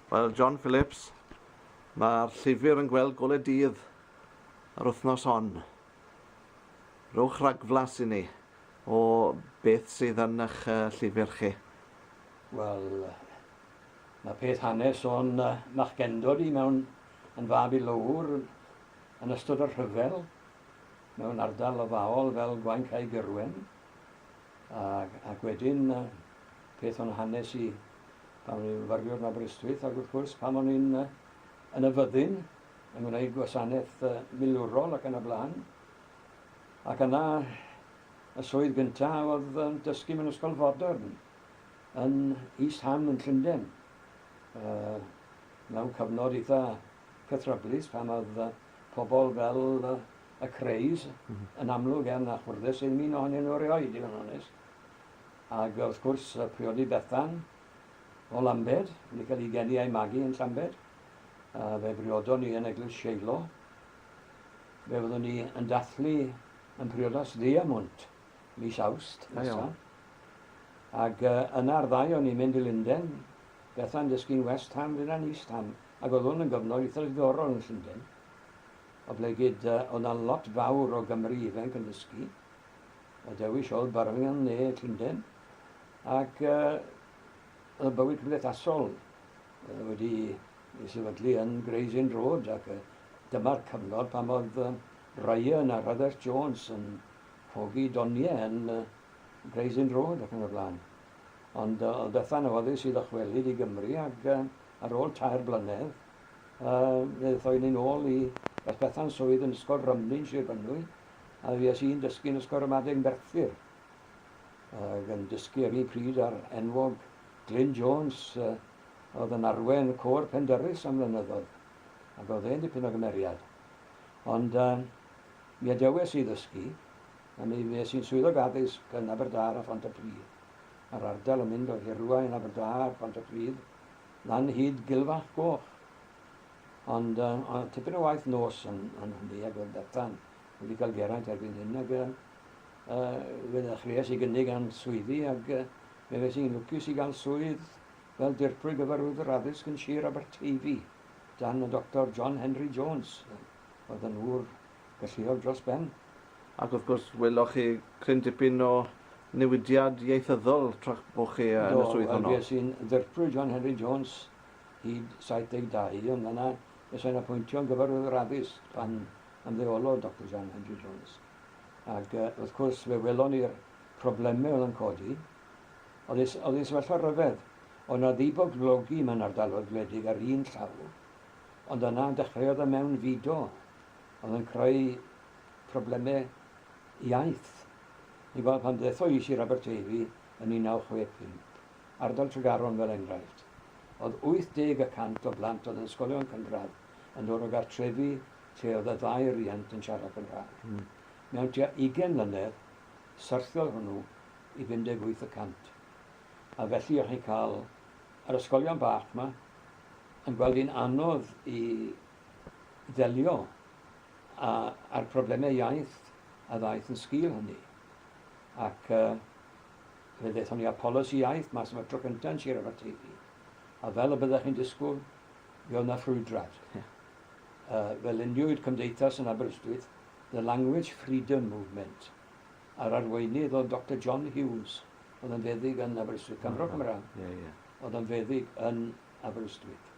Wel, John Phillips, mae'r llyfr yn gweld golau dydd yr wythnos hon. Rhowch ragflas i ni o beth sydd yn eich llyfr chi. Wel, mae peth hanes o'n machgendod i mewn yn fab i lowr yn ystod y rhyfel mewn ardal lofaol fel Gwaun Cae Gyrwen. Ac, ac wedyn, peth o'n hanes i, pan o'n i'n fyfyriwr yn Aberystwyth, ac wrth gwrs, pan o'n i'n yn y fyddin, yn gwneud gwasanaeth milwrol ac yn y blaen. Ac yna, y swydd gyntaf oedd yn dysgu mewn ysgol fodern yn East Ham yn Llundain. Uh, mewn cyfnod eitha cythryblus pan oedd pobl fel y craze yn amlwg iawn a chwrddus iddyn un ohonyn nhw erioed i fod yn onest. Ac wrth gwrs y priodi Bethan o Lambed, wedi cael ei geni a'i magu yn Llambed. A fe briodon ni yn Eglwys Sheilo. Fe fyddwn ni yn dathlu yn priodas ddiamwnt mis Awst nesaf. Ac uh, yna'r ddau o'n i'n mynd i Linden, Bethan dysgu'n West Ham, fyna'n East Ham, ac oedd hwn yn gyfnod eitha ddiddorol yn Llundain. oblegid o na lot fawr o Gymry ifanc yn dysgu a dewis ol Birmingham ne Llunden ac oedd y bywyd cymdeithasol wedi ei sefydlu yn Gray's Inn Road ac dyma'r cyfnod pan oedd Ryan a Rhydderch Jones yn hogi doniau yn Gray's Inn Road ac yn y blaen ond oedd Bethan yn foddus i ddychwelyd i Gymru ac ar ol tair blynedd Fe ddothon ni'n ôl i Beth Bethan, swydd yn Ysgol Rymnyn, Sir Fynwy, a fues i'n dysgu yn Ysgol Ramadeg Merthyr, ac yn dysgu ar un pryd â'r enwog Glyn Jones, oedd yn arwen y côr Pendyrus am flynyddoedd, ac oedd e'n dipyn o gymeriad. Ond mi adewes i ddysgu, a mi fues i'n Swyddog Addysg yn Aberdâr a Phontypridd. Mae'r ardal yn mynd o Hirwaun, Aberdâr, Pontypridd, dan hyd Gilfach Goch. Ond uh, o, tipyn o waith nos yn, yn hynny, ac oedd Bethan wedi cael geraint erbyn hyn, ac uh, fe ddechreuais i gynnig am swyddi, ac uh, fe fes i'n lwcus i gael swydd fel dirprwy gyfarwydd yr addysg yn Sir Aberteifi, dan y Doctor John Henry Jones, oedd yn ŵr galluog dros ben. Ac wrth gwrs, weloch chi cryn dipyn o newidiad ieithyddol tra'ch bod chi yn y swydd honno. Do, wel, fues i'n Ddirprwy John Henry Jones hyd 72, ond yna fues i'n apwyntio'n Gyfarwyddwr Addysg pan ymddeolodd Doctor John Henry Jones. Ac wrth gwrs, fe welon ni'r problemau oedd yn codi. Oedd ei, oedd ei sefyllfa ryfedd. Oedd yna ddiboblogi mewn ardaloedd gwledig ar un llaw, ond yna dechreuodd y mewnfudo oedd yn creu problemau iaith. Ni'n gweld pan ddethon i Sir Aberteifi yn 1965, ardal Tregaron fel enghraifft, oedd 80 y cant o blant oedd yn ysgolion cynradd yn dod o gartrefi lle oedd y ddau riant yn siarad Cymraeg. Mm. Mewn tua 20 mlynedd, syrthiodd hwnnw i 58 y cant. A felly o'ch chi'n cael yr ysgolion bach yma yn gweld hi'n anodd i ddelio â, â'r problemau iaith a ddaeth yn sgil hynny. Ac uh, fe ddaethon ni â polisi iaith mas am y tro cyntaf yn Sir Aberteifi. A fel y byddech chi'n disgwyl, fe oedd yna ffrwydrad. Yeah. Uh, fe luniwyd cymdeithas yn Aberystwyth, The Language Freedom Movement, a'r arweinydd oedd Dr John Hughes, oedd yn feddyg yn Aberystwyth, Cymro Cymraeg, yeah, yeah. oedd yn feddyg yn Aberystwyth,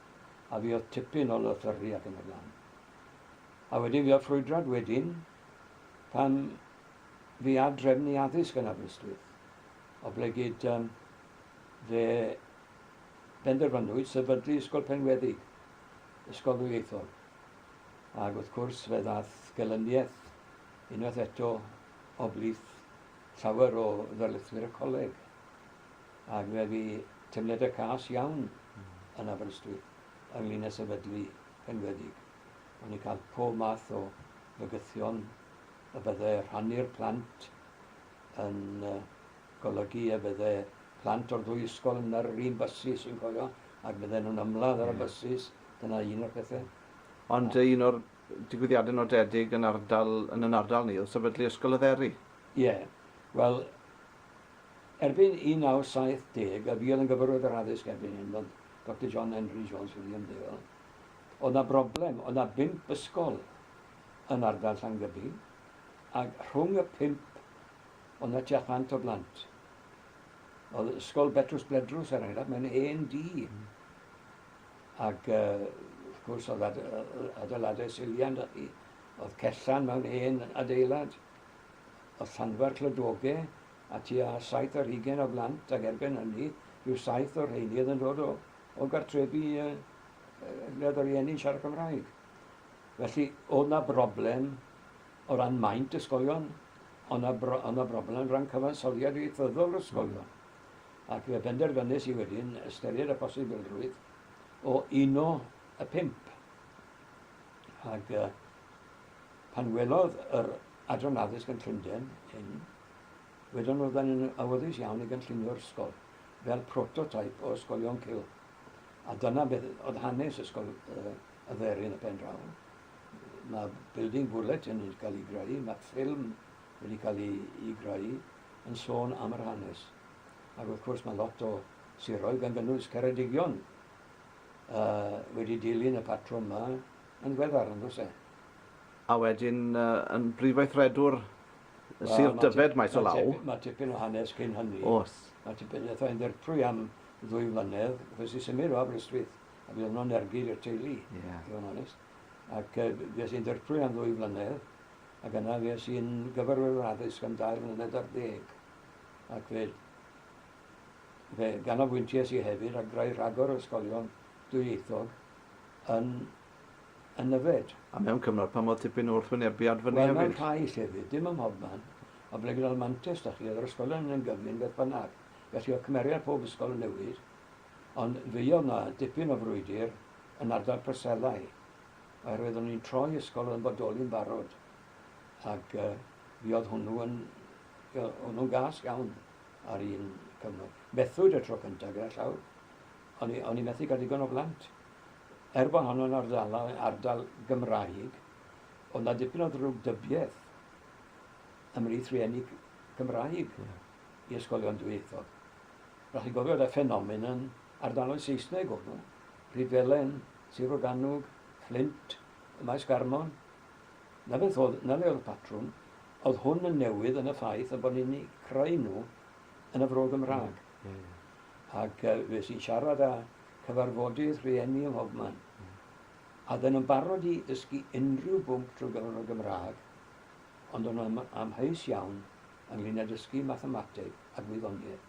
a fi oedd tipyn o lythyrru ac yn y blaen. A wedyn fi oedd ffrwydrad wedyn, pan fi ar drefnu addysg yn Aberystwyth, o ble gyd um, fe benderfynwyd sefydlu Ysgol Penweddig, Ysgol Ddwyieithol. Ac wrth cwrs fe ddath gelyniaeth unwaith eto o blith llawer o ddarlithwyr y coleg. ac fe fu teimladau cas iawn yn Aberystwyth ynglyn â sefydlu penweddig. O'n i'n cael pob math o fygythion y bydde rhannu'r plant yn golygu y bydde plant o'r ddwy ysgol yn ar yr un bysus, fi'n cofio, ac bydden nhw'n ymladd ar y bysus, dyna un o'r pethau. Ond un o'r digwyddiadau nodedig yn ardal, yn yn ardal ni oedd sefydlu Ysgol y Dderi. Ie, wel, Erbyn 1970 y buodd yn gyfarwydd yr addysg erbyn hyn oedd Doctor John Henry Jones Wiliamdale. Oedd na broblem, oedd na bump ysgol yn ardal Llangybi ac rhwng y pump oedd na tua chant o blant. Oedd ysgol Betrws Bledrws er enghraifft mewn hen dŷ ac uh, wrth gwrs oedd adeiladau silian da chi. Oedd cellan mewn hen adeilad. y Llanfair Clydwoge a tua saith ar hugain o blant ac erbyn hynny rhyw saith o'r rheiny oedd yn dod o, o gartrefi yy lle oedd y rhieni'n siarad Cymraeg. Felly oedd 'na broblem o ran maint ysgolion, ond na, bro, na broblem yn rhan cyfansoddiad ieithyddol yr ysgolion. Ac fe benderfynus i wedyn ystyried y posibilrwydd o uno y pimp. Ac uh, pan welodd yr Adran Addysg yn Llundain, hyn, wedon nhw, 'da ni'n awyddus iawn i gynllunio'r ysgol fel prototype o ysgolion cylch. A dyna beth oedd hanes ysgol uh, y dderin y pen draw. Mae building bulletin wedi cael ei greu, mae ffilm wedi cael ei, ei greu yn sôn am yr hanes. Ac wrth gwrs mae lot o siroedd gan gynnwys Ceredigion uh, wedi dilyn y patrwm yma yn ddiweddar yn does e? A wedyn uh, yn brifweithredwr well, Sir Dyfed maes o law. Mae tipyn o hanes cyn hynny. Os. Mae tipyn o yn ddirprwy am ddwy flynedd, fes i symud o Aberystwyth, a bydd yno'n ergyd i'r teulu, yeah. i fod yn onest. Ac uh, fes i'n ddirprwy am ddwy flynedd, ac yna fes i'n gyfarwyddwr addysg am dair mlynedd ar ddeg. Ac fe, fe ganolbwynties i hefyd a greu rhagor o ysgolion dwyieithog yn yn yfed. A mewn cyfnod pan fod tipyn o wrthwynebiad fyny hefyd? Wel, mewn rhai llefydd, dim ym mhobman, ond ble gyda'r mantes 'da chi, oedd yr ysgolion yn gyflym beth bynnag, felly oedd cymeriad pob ysgol yn newid, ond fe oedd 'na dipyn o frwydr yn ardal Preselau, oherwydd o'n i'n troi ysgol oedd yn bodoli'n barod, ac uh, fi oedd hwnnw yn, hwnnw'n gas iawn ar un cyfnod. Methwyd y tro cyntaf gyda llaw, O'n i, o'n i methu cael digon o blant. Er bod hon yn ardalau, ardal Gymraeg, oedd 'na dipyn o ddrwg dybiaeth ymhlith rhieni Cymraeg yeah. i ysgolion dwyieithog. Rhaid chi gofio da ffenomen yn ardaloedd Saesneg o'n nhw. Rhydfelen, Sir Oganwg, Flint, y Maes Garmon. Na beth oedd, na le oedd y patrwm. Oedd hwn yn newydd yn y ffaith y bod ni'n creu nhw yn y fro Gymraeg. Ac fues i'n siarad â cyfarfodydd rhieni ym mhobman. A oedden nhw'n barod i ddysgu unrhyw bwnc trwy gyfrwng y Gymraeg, ond o'n nhw'n amheus iawn ynglŷn â dysgu mathemateg a gwyddoniaeth.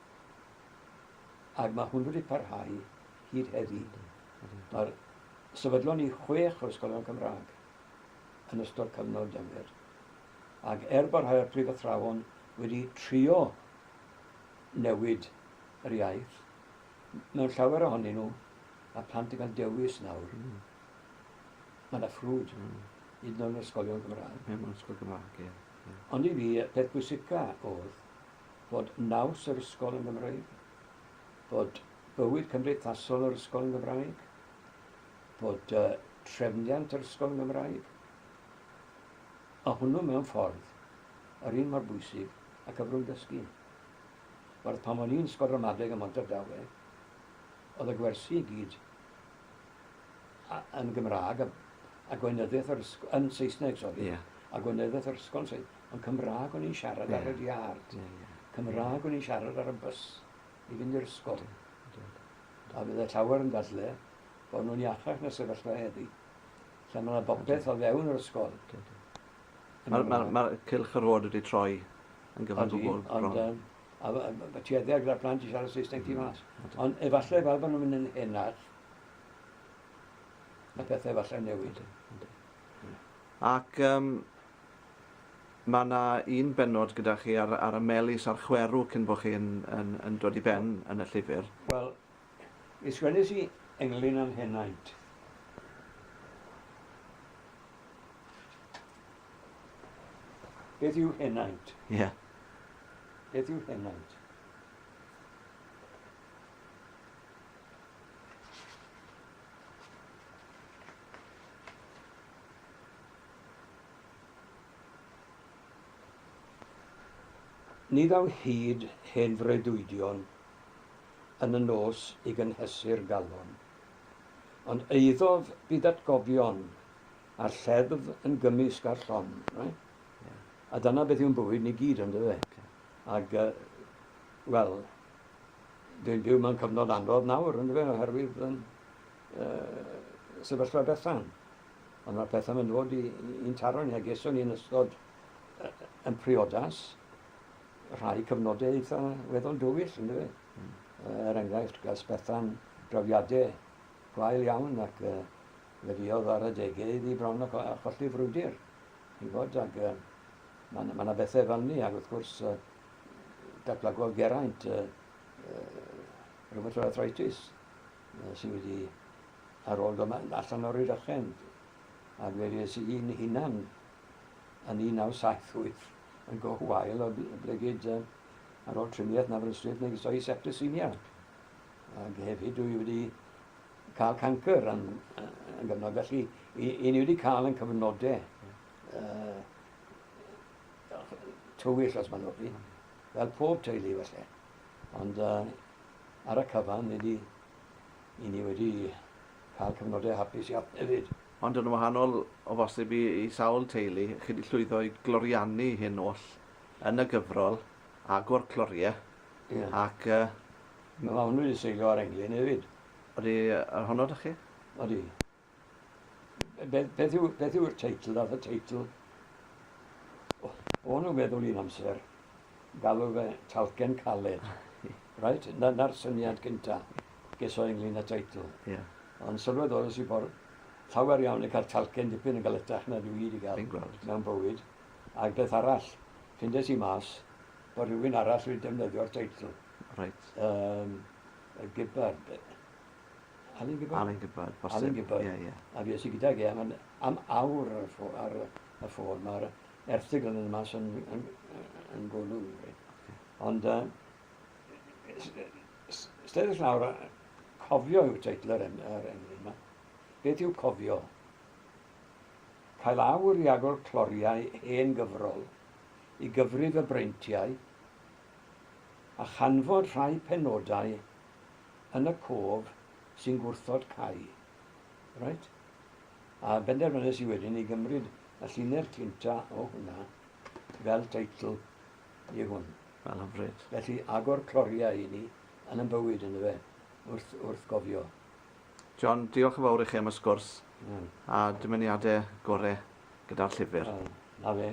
Ac mae hwn wedi parhau hyd heddi. Mae'r sefydlon ni chwech o'r ysgolion Cymraeg yn ystod cyfnod dynglyd. Ac er bod rhai o'r prifathrawon wedi trio newid yr iaith. Mewn llawer ohonyn nhw, mae plant yn cael dewis nawr. Mm. Mae yna ffrwd, mm. hyd yn oed yn ysgolion Gymraeg. Ie, mewn ysgol Gymraeg, ie. ie. Ond i fi, peth bwysica oedd bod naws yr ysgol yn Gymraeg, bod bywyd cymdeithasol yr ysgol yn Gymraeg, bod uh, trefniant yr ysgol yn Gymraeg, a hwnnw mewn ffordd yr un mor bwysig a cyfrwng dysgu. Werth pam o'n i'n sgor ramadeg ym Mhontardawe oedd y gwersi i gyd yn Gymraeg a, a gweinyddiaeth yr ysgol, yn Saesneg, sori, yeah. a gweinyddiaeth yr ysgol yn Saesneg, ond Cymraeg o'n i'n siarad yeah. ar y diard. Yeah, yeah. Cymraeg o'n i'n siarad ar y bus i fynd i'r ysgol. A bydd y llawer yn dadle bod nhw'n iachach na sefyllfa heddi. Lle mae yna bobeth o fewn yr ysgol. Mae'r ma, ma cylch yr hod wedi troi yn gyfan gwbl bron. Um, a, a, a tuedda gyda plant i siarad Saesneg tu mas. Mm, Ond efallai fel bod nhw'n mynd yn henach, y pethau efallai newid. Ac um, mae yna un benod gyda chi ar, ar y melus a'r chwerw cyn bod chi'n yn, yn dod i ben yn y llyfr. Wel, Mi sgwennes i englyn â'n henaint. Beth yw henaint? Ie. Yeah. Beth yw henaint? Ni ddaw hyd hen freuddwydion yn y nos i gynhesu'r galon. Ond eiddof byd atgofion a'r lleddf yn gymysg â'r llon. Right? Yeah. A dyna beth yw'n bywyd ni gyd, ynddo fe? Okay. Ac, uh, wel, dwi'n byw mewn cyfnod anodd nawr, ynddo fe, oherwydd yn uh, sefyllfa bethan. Ond mae'r pethau yn dod i'n taro ni, a geswn ni'n ystod uh, yn priodas, rhai cyfnodau eitha weddol dywyll, ynddo fe. Mm. Er enghraifft, gas Bethan drawiadau gwael iawn ac uh, fe fiodd ar y degau iddi bron a, cho a cholli frwydr. I fod, ac uh, mae yna ma bethau fel ni, ac wrth gwrs, uh, datblygodd Geraint uh, uh, rhywbeth o'r arthritis uh, sydd wedi ar ôl dod allan o'r rydychen. Ac fe fes i'n hunan yn 1978 yn go wael o blegid uh, ar ôl triniaeth na fel stryd megis o'i septicemia. Ac hefyd dwi wedi cael canker yn, yn gyfnod. Felly, i, i ni wedi cael yn cyfnodau uh, tywyll os mae'n ofni, fel pob teulu felly. Ond uh, ar y cyfan, ni wedi, i ni wedi cael cyfnodau hapus iawn hefyd. Ond yn wahanol o bosib i i sawl teulu, chi 'di llwyddo i gloriannu hyn oll yn y gyfrol, agor clorie, Ie. ac yy... Mae mam wedi seilio ar englyn hefyd. Odi yy honno 'da chi? Odi. Be- beth yw beth yw'r teitl, ddath y teitl o o'n nhw'n meddwl un amser, galw fe Talcen Caled. Reit? 'na 'na'r syniad gynta. ges o ynglyn â teitl. Yeah. Ond sylweddolus i bod llawer iawn yn cael talcen dipyn yn galetach na dwi wedi cael mewn bywyd. A'r beth arall, ffindes i mas bod rhywun arall wedi defnyddio'r teitl. Right. Um, y Gibbard. Alun Gibbard? Alun Gibbard, bosib. Alun Gibbard. Yeah, yeah. A fi esi gydag e am, am awr ar y ffôn. Ar, y ffôn. Mae'r erthigl yn y mas yn, yn, yn, yn golwg. Okay. Ond uh, Steddys nawr, cofio yw teitl yr englyn yma. Beth yw cofio? Cael awr i agor cloriau hen gyfrol, i gyfri fy breintiau, a chanfod rhai penodau yn y cof sy'n gwrthod cau. Right? A benderfynus i wedyn i gymryd y llinell cynta o hwnna fel teitl i hwn. Wel, hyfryd. Felly, agor cloriau i ni yn yn bywyd, yndyfe, wrth, wrth gofio. John, diolch yn fawr i chi am y sgwrs mm. a dymuniadau gore gyda'r llyfr. Wel, na fe.